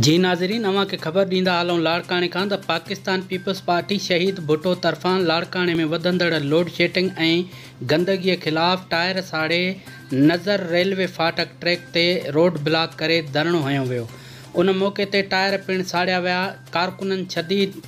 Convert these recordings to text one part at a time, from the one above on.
جي ناظرين اوهان کي خبر ڏيندا هلون لاڙڪاڻي کان ته پاڪستان پيپلز پارٽي شهيد ڀٽو طرفان لاڙڪاڻي ۾ وڌندڙ لوڊشيٽنگ ۽ گندگي خلاف ٽائر ساڙي نظر ريلوي ڦاٽڪ ٽريڪ تي روڊ بلاڪ ڪري ڌرڻو هنيو ويو ان موقعي تي ٽائر پڻ ساڙيا ويا ڪارڪنن شديد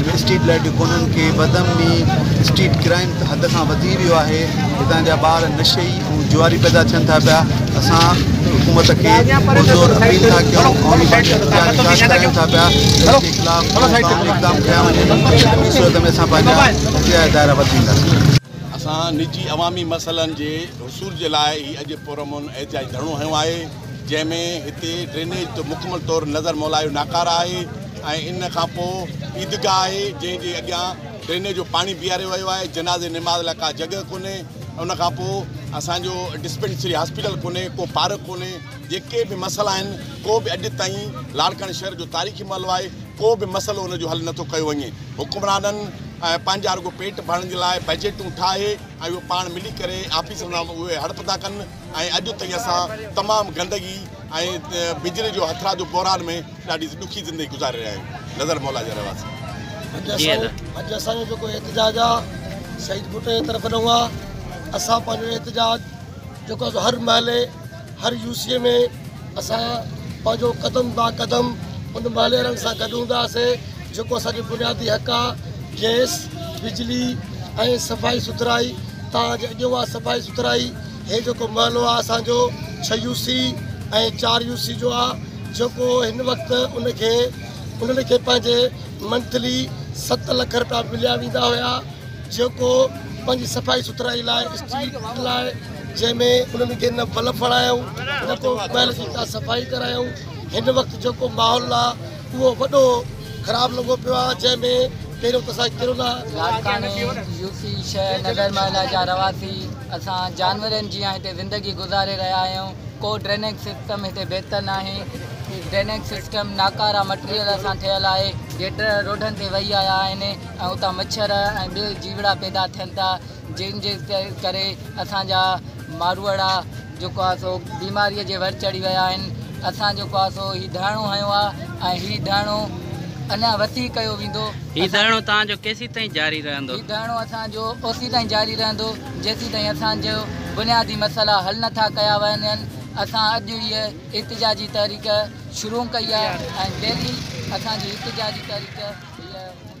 هن اسٽريٽ لائيٽ جو ڪونن کي بدامني، اسٽريٽ ڪرائيم، حد کان وڌي ويو آهي، هتان جا ٻار نشئي ۽ جواري پيدا ٿين ٿا پيا، اسان حڪومت کي پرزور اپيل ٿا ڪيون، قومي پارٽي جو احتجاج احتجاج ڪرايون ٿا پيا ته ان جي خلاف ٺوس قانوني اقدام کنيا وڃن، نه ٻي صورت ۾ اسان پنهنجا احتجاجي دائرا وڌينداسين. اسان نجي عوامي مسئلن جي حصول جي لاء هي اڄ پرامن احتجاجي ڌرڻو هنيو آهي. جنهن ۾ هتي ڊرينيج تي مڪمل طور نظر مولائي جو ناڪاره آهي ۽ ان کان پوء عيدگاهه آهي جنهن جي اڳيان ڊرينيج جو پاڻي بيهاريو ويو آهي جنازي نماز لاء ڪا جڳهه ڪونهي ان کان پوء اسان جو ڊسپينسري هاسپيٽل ڪونهي ڪو پارڪ ڪونهي جيڪي به مسئلا آهن ڪو به اڄ تائين لاڙڪاڻي شهر جو تاريخي محلو آهي ڪو به مسئلو ان جو حل نٿو ڪيو وڃي حڪمرانن پنهنجا رڳو پيٽ ڀرڻ جي لاء بجيٽون ٺاهي ۽ اهو پاڻ ملي ڪري آفيسن سان اهي هڙپ ٿا ڪن ۽ اڄ تائين اسان تمام گندگي ۽ بجلي جو هٿرادو بحران ۾ ڏاڍي ڏکي زندگي گذاري رهيا آهيون نظر مولا جا رهواسي اڄ اسان جو جيڪو احتجاج آهي سيد ڀٽو جي طرف ڏانهن آهي اسان پنهنجو احتجاج جيڪو هر محلي هر يوسي ۾ اسان پنهنجو قدم با قدم ان محلي وارن سان گڏ هونداسين جيڪو اسان جو بنيادي حق آهي گيس بجلي ۽ صفائي سٿرائي تان اڄ اڄ اها صفائي سٿرائي هي جيڪو محلو آ اسان جو ڇهه يو سي ۽ چار يو سي جو آ جيڪو هن وقت ان کي انهن کي پنهنجي منٿلي ست لک رپيا مليا ويندا هيا جيڪو پنهنجي صفائي سٿرائي لاء اسٽريٽ لاء جنهن ۾ انهن کي نه بلف هڻايائون نه ڪو محل جي ڪا صفائي ڪرايائون هن وقت جيڪو ماحول آ اهو وڏو خراب لڳو پيو آهي جنهن ۾ پهريون ته اسان ڪرونا لاڙڪاڻي، يو پي، شهر نگر محله جا رهواسي اسان جانورن جيان هتي زندگي گذاري رهيا آهيون، ڪو ڊرينيج سسٽم هتي بهتر ناهي، ڊرينيج سسٽم ناڪارا مٽيريل سان ٺهيل آهي، گٽر روڊن تي وهي آيا آهن ۽ اتان مڇر ۽ ٻيو جيوڙا پيدا ٿين ٿا، جنهن جي ڪري اسان جا ماروئڙا جيڪو آهي سو بيماريء جي ور چڙهي ويا آهن اسان جيڪو آهي سو هي ڌرڻو هنيو آهي ۽ هي ڌرڻو اڃا وسيع ڪيو ويندو هي ڌرڻو توهان جو ڪيسين تائين جاري رهندو؟ هي ڌرڻو اسان جو اوسين تائين جاري رهندو جيسين تائين اسان جو بنيادي مسئلا حل نه ٿا ڪيا وڃن اسان اڄ هيء احتجاجي تحريڪ شروع ڪئي آهي ۽ ڊيلي اسان جي احتجاجي تحريڪ هيء هوندي.